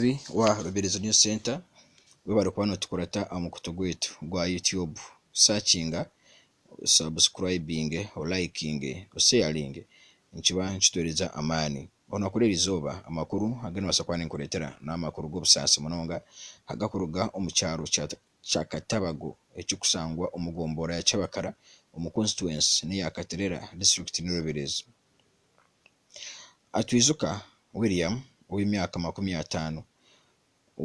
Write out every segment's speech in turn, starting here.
Omukozi wa Rubirizi News Centre webare kuba notukurata aha mukutu gwaitu gwa YouTube. Sakinga, osubscribinge, olayikinge, osheyaringe nikiba nikitwereza amaani. Boona kuri eri izooba amakuru agu nimbaasa kuba ninkureetera n'amakuru g'obusaasi munonga agakuruga omu kyaro kya Katabago ekirikushangwa omu gomboora ya Kyabakara omu Konsituwensi n'eya Katerera, Disiturikiti ni Rubirizi. Atwijuka William ow'emyaka makumi ataano,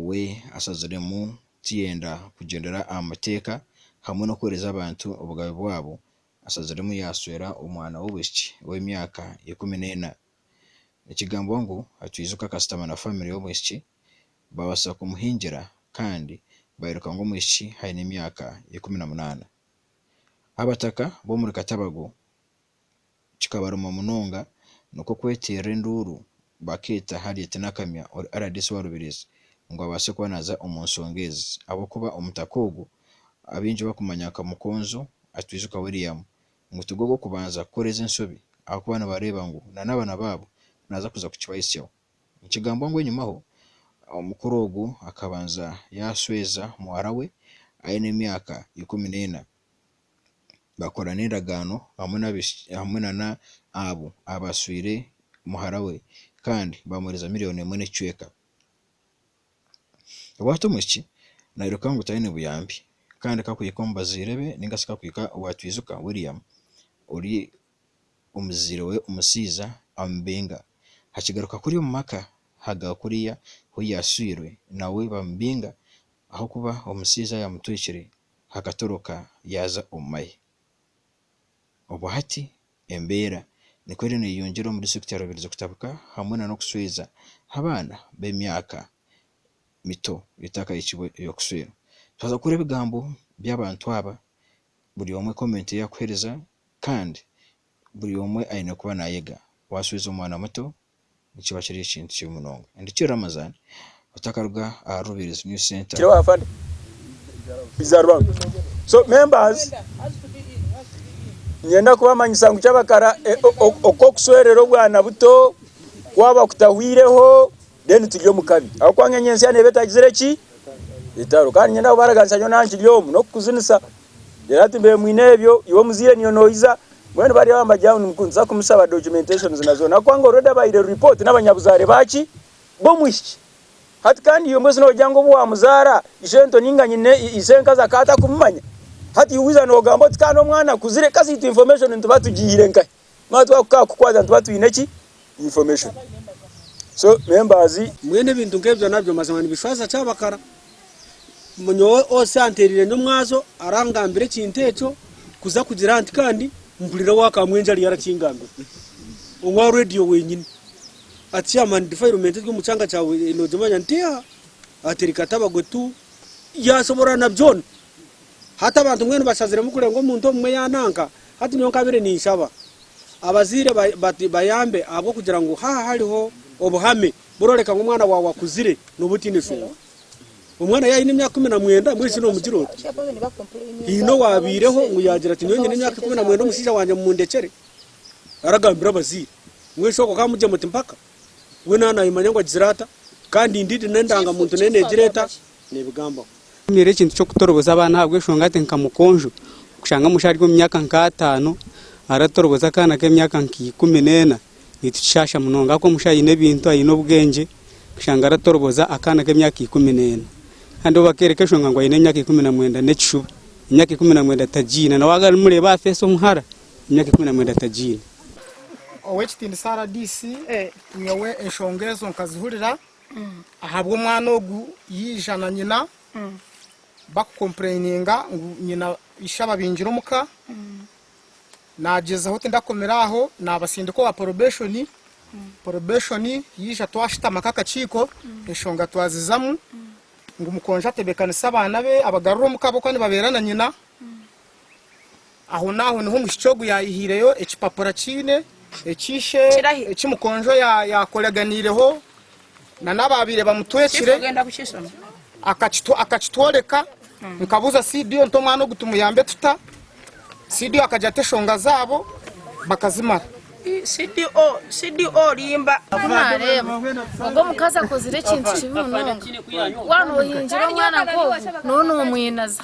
we ashaziremu kuyenda kugyendera aha Mateeka hamwe n'okuheereza abantu obugabe bwabo. Ashaziremu yaashwera omwana w'obwishiki ow'emyaka ikumi n'ena. Nikigambwa ngu Atwijuka akashutama na famire y'omwishiki baabaasa kumuhingira kandi bairuka ngu omwishiki aine emyaka ikumi na munaana. Abataka b'omuri Katabago kikabaruma munonga nikwo kweteerera enduuru bakeeta Harriet Nakamya ori rdc wa Rubirizi ngu abaase kuba naaza omu nshonga ezi ahabw'okuba omutaka ogu abaingi bakumanya nka Mukonzo Atwijuka William ngu tigwe ow'okubanza kukora ezi enshobi ahabw'okuba nibareeba ngu nan'abaana baabo naaza kuza kukibahitsyaho. Nikigambwa ngu enyumaho omukuru ogu akabanza yaashweeza muhara we aine emyaka ikumi n'ena. bakora n'endagaano hamwe nana abo abaswire muhara we kandi bamuhereza miriyoni emwe n'ekicweka. Bwatyo omwishiki nairuka ngu taine buyambi kandi ka kuhika omu bazaire be ninga shi ka kuhika owa twijuka William ori omuzaire we omushaija amubinga. Hakigaruka kuriya omu maka haga kuriya ahu yaswirwe nawe bamubinga ahabw'okuba omushaija yamutwikire. hakatoroka yaaza omu mahe. Obwo hati embeera nikwo eriyo neeyongyera omu disiturikiti ya Rubirizi kutabuka hamwe nana okushweeza abaana b'emyaka mito etakahikiirwe ey'okusweerwa. Twaza kuhurira ebigambo by'abantu aba, buri omwe komenti ei arikuheereza kandi buri omwe aine kuba naayega. Waashweeza omwana muto nikiba kiri ekintu kibi munonga and ki Ramazan otakaruga ahari Rubirizi New Centre. Ninyenda kubamanyisa ngu kyabakara oku okuswerera obwana buto kwaba kutahwireho then turi omu kabi ahabw'okuba ngu enyo ensya neeba etagizire ki? Etaro. Kandi ninyenda kubaraganisa nyowe naha nkiri omu n'okukuzinisa then hati mbeire mwine ebyo iwe omuzaire niwe noija Mbwenu bari aho amagye aho nimuza kumushaba documentations na zoona ahabw'okuba nga already abahaire report n'abanyabuzaare baaki? B'omwishiki. Hati kandi iwe mbwenu noogira ngu obu waamuzaara ishento nainga nyine ishenkazi akaba atakumumanya? Hati iwe wiija noogamba oti ka n'omwana akuzire, ka ziitu information nituba tugihaire nkahi? Nituba twakukaakukwata nituba twine ki? information so members. Mbwenu ebintu nk'ebyo nabyo mazima nibishwaza Kyabakara. Nyowe Osi anteereire n'omwazo arangambira ekintu ekyo kuza kugira nti kandi mpurira owa Kamwenje ariyo arakingambira, owa Radio wenyini ati Chairman defilement eri omu kyanga kyawe nogimanya nti eha? Ati reka tabagwe tu. Yashoboorora na byona. Hati abantu mbwenu bashaziremu kurenga omuntu omwe yananka. Hati nyowe nkabire ninshaba abazaire bati bayambe ahabw'okugira ngu haha hariho obuhame buroreka ngu omwana waawe akuzire noba otaine nshonga. Omwana yaine emyaka ikumi na mwenda mbwenu shi nomugira oti haine owabaireho ngu yagira ati nyowe nyine emyaka ikumi na mwenda omushaija wangye mumundekere? Aragambira abazaire mbwenu shi okwo kamugye muti mpaka? we naaba naayemanya ngu agizire ata kandi indeed n'endangamuntu nayo neegira eta? Neebigambaho. Nyeera ekintu ky'okutoroboza abaana ahabw'enshonga nti nka mukonjo kushanga omushaija ari omu myaka nk'ataano aratoroboza akaana k'emyaka nka ikumi n'ena nitukishaasha munonga ahakuba omushaija aine ebintu, aine obwengye kushanga aratoroboza akaana k'emyaka ikumi n'ena. Kandi obu bakeereka enshonga ngu aine emyaka ikumi na mwenda n'ekishuba. Emyaka ikumi na mwenda tagiine na waaba arimureeba aha feesi omuhara. Emyaka ikumi na mwenda tagiine. Ow'ekitiinisa rdc, nyowe enshonga ezo nkazihurira ahabw'omwana ogu yaija na nyina bakukompureyininga ngu nyina ishe ababingire omu ka, naagyezaho tindakomire aho naabasindika owa porobeshoni, porobeshoni yaija twashutama nk'akakiiko enshonga twazizamu ngu mukonjo atebeekanise abaana be abagarure omu ka ahabw'okuba nibabeera na nyina. Ahonaaho niho omushiki ogu yaayihireyo ekipapura kiine eki ishe, Kirahi? eki mukonjo ya- yaakoraganiireho nana abaabaire bamutwekire akakitu- akakitworeka. Nkabuuza Sidio nti omwana ogu tumuyambe tuta? Sidio akagira ati eshonga zaabo bakazimara. CDO, CDO orimba. Ku naareeba ogwo omukazi akozire ekintu kibi munonga. Waaba noohingire omwana nk'ogwo, nooba noomwinaza.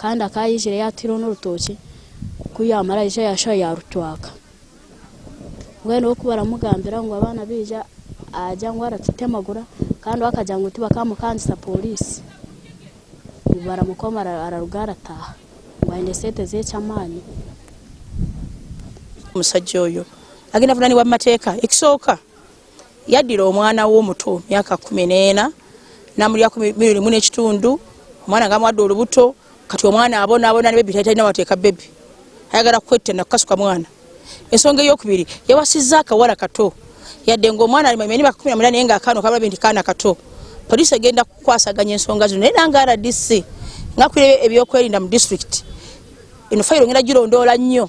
Kandi akaba yaizire yatwireho n'orutookye ku yaamara yaija yaashuha yaarutwaka. Mbwenu we ku baramugambira ngu abaana baija agira ngu aratutemagura kandi we akagira ngu tibakaamukangisa pooriisi. Ngu baramukoma ara- araruga arataaha ngu aine esente z'ekyamaani. Omushaija oyo agenda kuvunaanibwa omu mateeka ekisooka. Yadira omwana we omuto myaka kumi nena na murya kumi rimu nekitundu omwana nga amwada orubuto kati omwana abona abona ni baby tayina tayina wateka baby ayagala kwetana kukasuka mwana ensonga eyokubiri yawasiza akawala kato yade nga omwana ari manyimanya emyaka kumi na munana naye nga akana okabona baby nti kana kato police egenda kukwasaganya ensonga zino naye nange rdc nga akwire ebyokwerinda mu district eno fayiro ngenda gilondola nyo.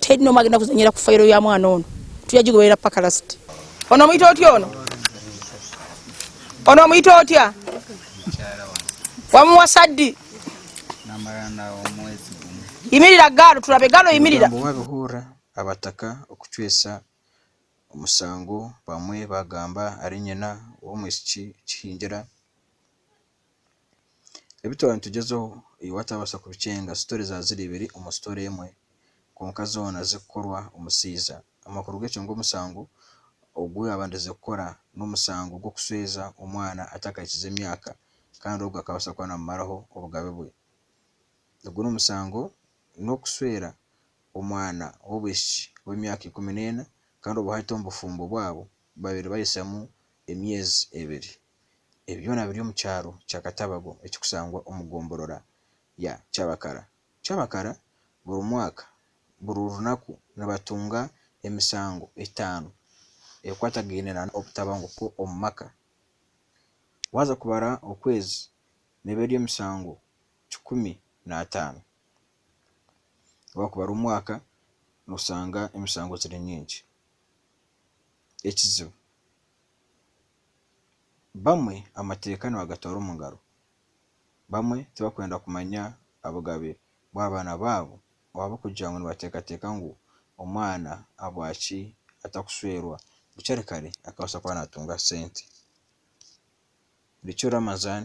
Teri n'omwe agenda kuzanyira ku fayiro ya mwana ono. Turyagigoberera paka lasiti. Onomwita otya ono? Onomwita otya? Wamuwasa ddi? Namara nawe omwezi gumwe. Yimirira gaal turabe. Gaal oyimirira. Omugambo Waabihurira Abataka Okucwesa Omusango Bamwe Baagamba Ari Nyina W'omwishiki Kihingyira. Ebi twaba nitugyezaho iwe waatabaasa kubikyenga, sitori zaaba ziri ibiri omu sitori emwe kwonka zoona zirikukorwa omushaija. Amakuru g'ekyo ngu omusango ogu yaabandize kukora n'omusango gw'okushweza omwana atakahikize emyaka kandi ogwo akabaasa kuba naamumaraho obugabe bwe. Ogwo n'omusango n'okushwera omwana w'obwishiki w'emyaka ikumi n'ena kandi obu hahika omu bufumbo bwabo babaire bahisamu emyezi ebiri. Ebi byona biri omu kyaro kya Katabago ekirikushangwa omu gomborora ya Kyabakara. Kyabakara buri mwaka buri runaku nibatunga emisango etaano ekwatagaine na obutabanguko omu maka. Waaza kubara okwezi neeba eri emisango kikumi n'ataano. Waakubara omwaka noshanga emisango ziri nyingi. Ekizibu. Bamwe amateeka nibagatwara omu ngaro. Bamwe tibarikwenda kumanya obugabe bw'abaana baabo ahabw'okugira ngu nibateekateeka ngu omwana ahabwaki atakushwerwa bukya kare akabaasa kuba naatunga sente. Richo Ramazan